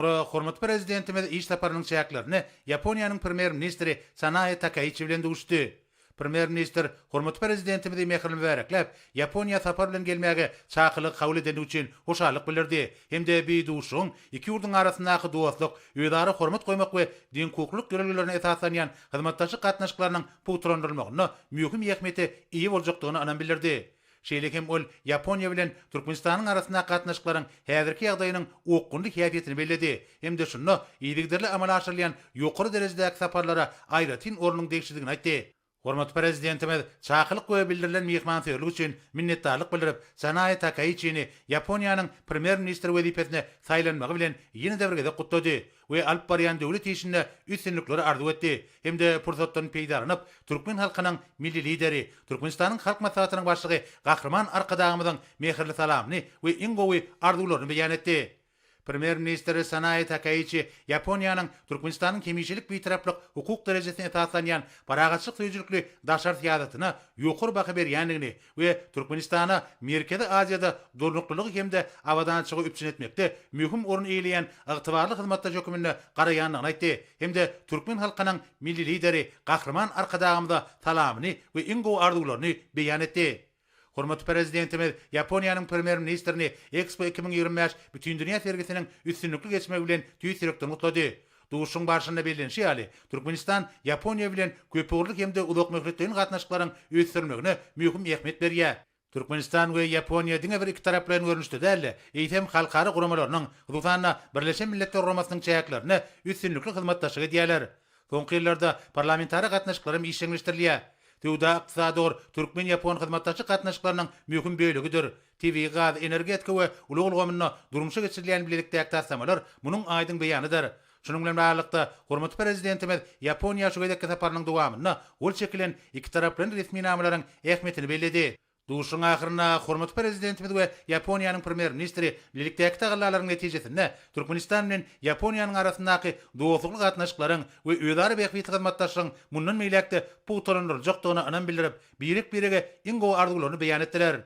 Hormatly Prezidentimiz iş saparynyň çäklerinde Ýaponiýanyň Premýer-ministri Sanae Takaiçi bilen duşuşdy. Premýer-ministr hormatly Prezidentimizi mähirli mübärekläp, Ýaponiýa sapar bilen gelmäge çakylygy kabul edendigi üçin hoşallyk bildirdi hem-de bi duşuşygyň iki ýurduň arasyndaky dostluk, özara hormat goýmak we deňhukuklylyk ýörelgelerine esaslanýan hyzmatdaşlyk gatnaşyklarynyň pugtalandyrylmagynda möhüm ähmiýete eýe boljakdygyna ynam bildirdi. Şeýle hem ol Ýaponiýa bilen Türkmenistanyň arasyndaky gatnaşyklaryň häzirki ýagdaýynyň okgunly häsiýetini belledi hem-de şunda yzygiderli amala aşyrylýan ýokary derejedäki saparlara aýratyn ornuň degişlidigini aýtdy. Hormatly Prezidentimiz çakylyk we bildirilen myhmansöýerlik üçin minnetdarlyk bildirip, Sanae Takaiçini Ýaponiýanyň Premýer-ministri wezipesine saýlanmagy bilen ýene-de bir gezek gutlady we alyp barýan döwlet işinde üstünlikleri arzuw etdi hem-de pursatdan peýdalanyp, türkmen halkynyň Milli Lideri, Türkmenistanyň Halk Maslahatynyň Başlygy Gahryman Arkadagymyzyň mähirli salamyny we iň gowy arzuwlaryny beýan etdi. Premýer-ministr Sanae Takaiçi Ýaponiýanyň Türkmenistanyň hemişelik Bitaraplyk hukuk derejesine esaslanýan parahatçylyk söýüjilikli daşary syýasatyna ýokary baha berýändigini we Türkmenistana Merkezi Aziýada durnuklylygy hem-de abadançylygy üpjün etmekde möhüm orun eýeleýän ygtybarly hyzmatdaş hökmünde garaýandygyny aýtdy hem-de türkmen halkynyň Milli Lideri Gahryman Arkadagymyza salamyny we iň gowy arzuwlaryny beýan etdi. Hormatly Prezidentimiz Ýaponiýanyň Premýer-ministrini EKSPO iki müň ýigrimi bäş bütindünýä sergisiniň üstünlikli geçmegi bilen tüýs ýürekden gutlady. Duşuşygyň barşynda bellenişi ýaly, Türkmenistan Ýaponiýa bilen köpugurly hem-de uzakmöhletleýin gatnaşyklaryň ösdürilmegine möhüm ähmiýet berýär. Türkmenistan we Ýaponiýa diňe bir ikitaraplaýyn görnüşde däl-de, eýsem, halkara guramalarynyň, hususan-da, Birleşen Milletler Guramasynyň çäklerinde üstünlikli hyzmatdaşlyk edýärler. Soňky ýyllarda parlamentara gatnaşyklar hem işjeňleşdirilýär. Söwda-ykdysady ugur türkmen-ýapon hyzmatdaşlyk gatnaşyklarynyň möhüm bölegidir. Tebigy gaz, energetika we ulag ulgamynda durmuşa geçirilýän bilelikdäki taslamalar munuň aýdyň beýanydyr. Şunuň bilen baglylykda, hormatly Prezidentimiz Ýaponiýa şu gezekki saparynyň dowamynda gol çekilen ikitaraplaýyn resminamalaryň ähmiýetini belledi. Duşuşygyň ahyrynda hormatly Prezidentimiz we Ýaponiýanyň Premýer-ministri bilelikdäki tagallalaryň netijesinde Türkmenistan bilen Ýaponiýanyň arasyndaky dostlukly gatnaşyklaryň we özara bähbitli hyzmatdaşlygyň mundan beýläk-de pugtalandyryljakdygyna ynam bildirip, birek-birege iň gowy arzuwlaryny beýan etdiler.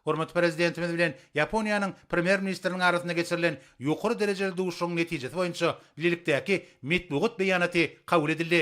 Hormatly Prezidentimiz bilen Ýaponiýanyň Premýer-ministriniň arasynda geçirilen ýokary derejeli duşuşygyň netijesi boýunça bilelikdäki metbugat beýanaty kabul edildi.